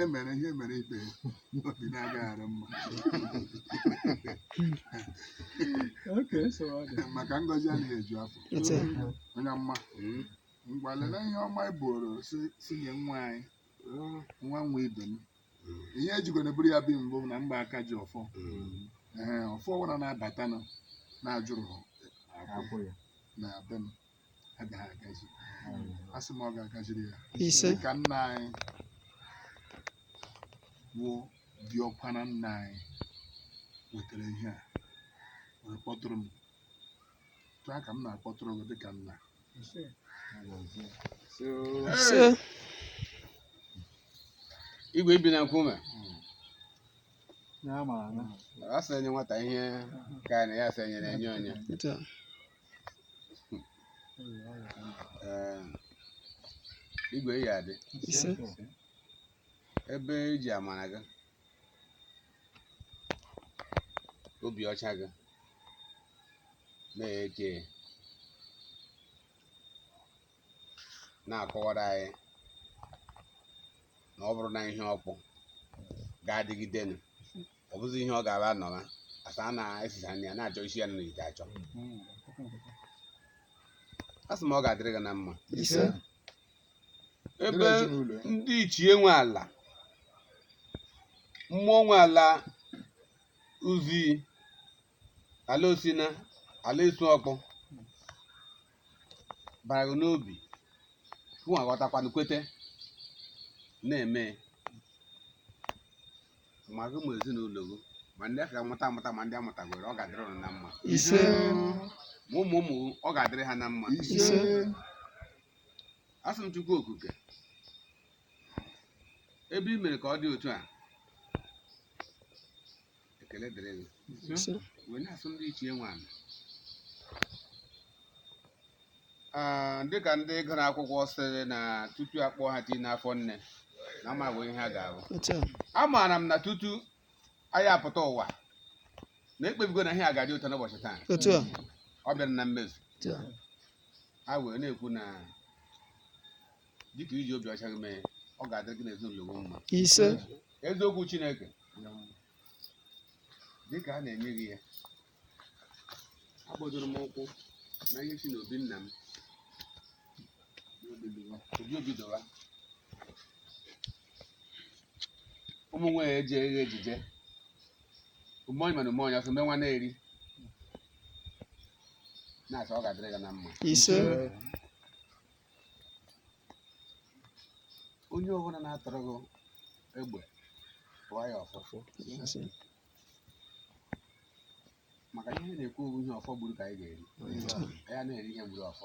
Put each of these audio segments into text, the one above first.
e mere ihe mere ibe ya obi na-agaghị arụ mma Okay, so ọ dị. maka ngọzi anaghị eju afọ Ise. onye mma ngwa lele ihe ọma ị bụrụ si si nye nwa anyị nwa nwa ibe m ihe ejikwana buru ya bi mbụ na mgba aka ji ọfọ ee ọfọ ọbụla na-abatanụ na-ajụrụ akwụ na be m agaghị agazi a sị m ọ ga-agaziri ya ise dịka nna anyị bụ diọkpara nna anyị wetara ihe a wee kpọtụrụ m otu a ka m na-akpọtụrụ gị dịka nna ise igwe i bi na nkume ya mara na a sị enye nwata ihe ka na ya sị enyere enye onye otu a. Ee, igwe ị ya-adị ise ebe eji amara gị obi ọcha gị na-eke na-akọwara anyị na ọ bụrụ na ihe ọkpụ ga-adịgidenụ ọ bụzi ihe ọ ga-aba nọra asa a na-esicha nri ya na-achọ isi ya n'ite achọ a sị m ọ ga-adịrị gị na mma ise ebe Dịrị ezinụlọ ya. ndị ichie nwe ala mmụọ nwe ala Uzii ala Osina ala Isuọkpụ bara gị n'obi gị aghọtakwanụ kwete na-eme ma gị ma ezinụlọ gị ma ndị a ka-amụta amụta ma ndị amụtagoro ọ ga-adịrị ụnụ na mma ise ma ụmụ ụmụ gị, ọ ga-adịrị ha na mma ise asị m chukwu okike ebe i mere ka ọ dị otu a ekele dịrị gị Ise. wee na-asị ndị ichie nwe ana Ah, dịka ndị gụrụ akwụkwọ sịrị na tutu akpụọ ha tii n'afọ nne na amago ihe ha ga-abụ Otu a. amaara m na tutu anyị apụta ụwa na ekpebigo na ihe a ga-adị otu a n'ụbọchị taa Otu a. ọ bịara na mmezu Otu a. a wee na-ekwu na dịka i ji obi ọcha gị mee ya, ọ ga-adịrị gị na ezinụlọ gị mma ise eziokwu chineke dịka a na-enye gị ya agbadoro m ụkwụ na ihe si n'obi nna m obi obi dọwa ụmụ nwanyị eji eghe ejije ụmụọnyị mana ụmụọnyị ọsọ mee nwa na-eri na-asọ ọ ga-adịrị gị na mma ise onye ọbụla na-atọrọ gị egbe tụọ ya ọfọ maka ihe a na-ekwu bụ ihe ọfọ gburu ka anyị ga-eri ya na-eri ihe gburu ọfọ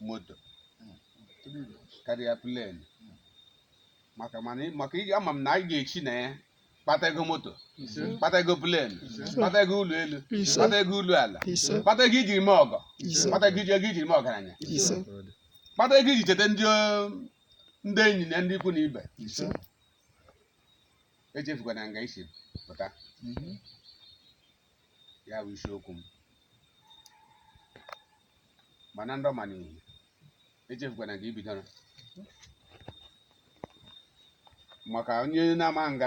moto karịa plen maka ama m na anyị ga-eche na ya kpata ego moto kpata ego plen kpata ego ụlọ elu Ise. kpata ego ụlọ ala Ise. kpata ego iji eme ọgọ Ise. kpata ego iji ego iji eme ọgaranya Ise. kpata ego iji cheta ndị o- ndị enyi na ndị ikwu na ibe Ise. echefukwana nga i si pụta ya bụ isiokwu m mana ndo mana echefukwana nga i bidoro maka onye na-ama nga